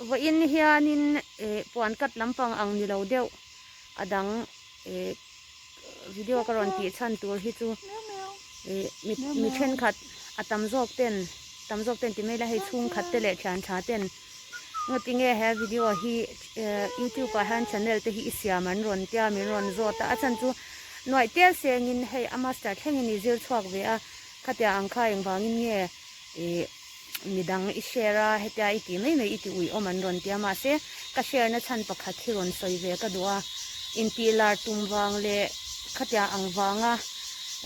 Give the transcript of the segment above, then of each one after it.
Vawiin hianin eh puan cut lampang ang ni lo deuh a dang eh video ka rawn tih chhan tur hi chu eh mi thenkhat a tam zawk ten tam zawk ten ti mai ila hei chhungkhat te leh thian tha ten ngo ti nge he video hi youtube ah hian channel te hi i siam an rawn tia a min rawn zawt a a chhan chu nuaih tel seng in hei a master thleng in i zir chhuak ve a khatia ang kha engvangin nge. Ih midang i share a hetia i ti mai mai i ti ui awm an rawn tia mahse ka share na chhan pakhat hi rawn sawi ve ka duh a intih lar tum vang leh khatia ang vanga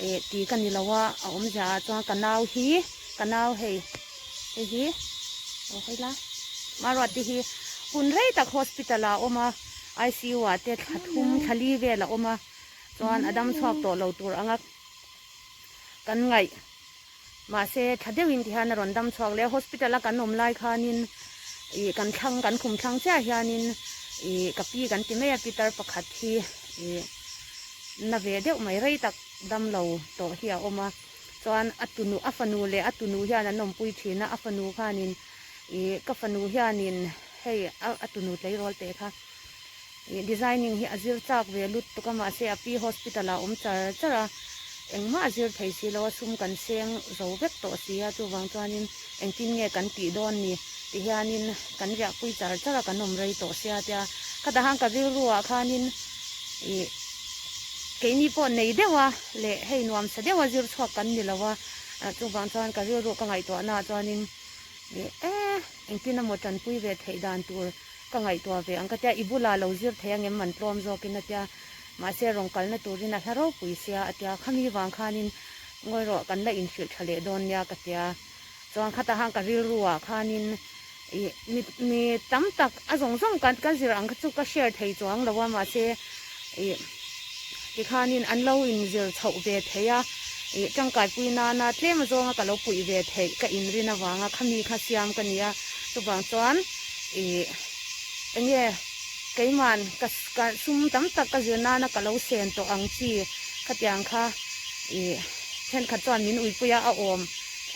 ih ti ka ni lo a a awm zia ah chuan ka nau hi ka nau hei hei hi aw hawi la maruah te hi hun rei tak hospital ah a awm a ICU ah te thla thum thla li vel a awm a chuan a dam chhuak tawh lo tur anga kan ngaih. Mahse, tha deuhin ti hian a rawn dam chhuak leh a. Hospital a kan awm lai khanin ih kan thlang, kan khum thlang chiah hianin ih ka pi kan ti mai a, Pitar pakhat hi ih na ve deuh mai rei tak damlo tawh hi a awm a. Chuan a tunu, a fanu leh a tunu hian an awmpui thin a, a fanu khanin ih ka fanu hianin hei a tunu tleirawl teh kha. Ih designing hi a zir chak ve lut tuk a, mahse a pi hospital ah awm char char a, engmah a zir thei si lo a, sum kan seng zo vek tawh si a, chuvang chuanin engtin nge kan tih dawn ni ti hianin kan riahpui char char a, kan awm rei tawh sia tia khata han ka rilru ah khanin ih keini pawh nei deuh a leh hei nuam sa deuh a zir chhuak kan ni lo a, chuvang chuan ka rilru ka ngaihtuahna ah chuanin ih eh engtin a mawtanpui ve theih dan tur Ka ngaihtuah ve ang ka tia, i bulah lo zir theih angem man tlawm zawkin a tia. Mahse rawn kalna turin a hla ropui sia a tia. Khami vang khanin ngawi rawh kan la inhrilh tha leh dawn nia ka tia. Chuan khata han ka rilru ah khanin i mi tam tak a zawng zawng kan zir ang kha chu ka share thei chuang lo a mahse ih tikhanin an lo inzir chhoh ve thei a, ih tangkaipui nana tlem zawnga ka lo puih ve theih ka inrin avanga khami kha siam ka nia chuvang chuan ih enge keiman ka ka sum tam tak ka zir nana ka lo sen tawh ang chi khatiang kha ih thenkhat chuan min uipui a a awm.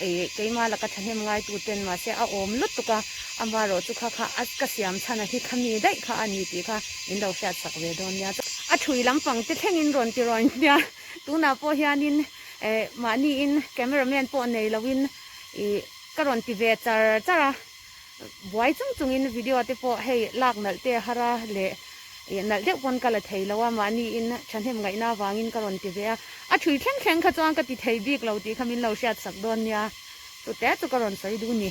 Ih keima laka thahnem ngaitu ten mahse a awm lutuk a, ama rawh chu kha kha a ka siam chhan a hi kha mi daih kha a ni tih kha in lo hriat chak ve dawn nia chuan a thui lampang te thleng in rawn ti rawn nia tunah pawh hian in eh mahni in camera man pawh nei lo in ih ka rawn ti ve char char a. buai chung chung in video te pawh hei lak nalh te a har a leh eh, nalh deuh pawn ka la thei lo a mahni in thahnem ngaihna avangin ka rawn ti ve a a thui thleng thleng kha chuan ka ti thei bik lo tih kha min lo hriat sak dawn nia tute chu ka rawn sawi du ni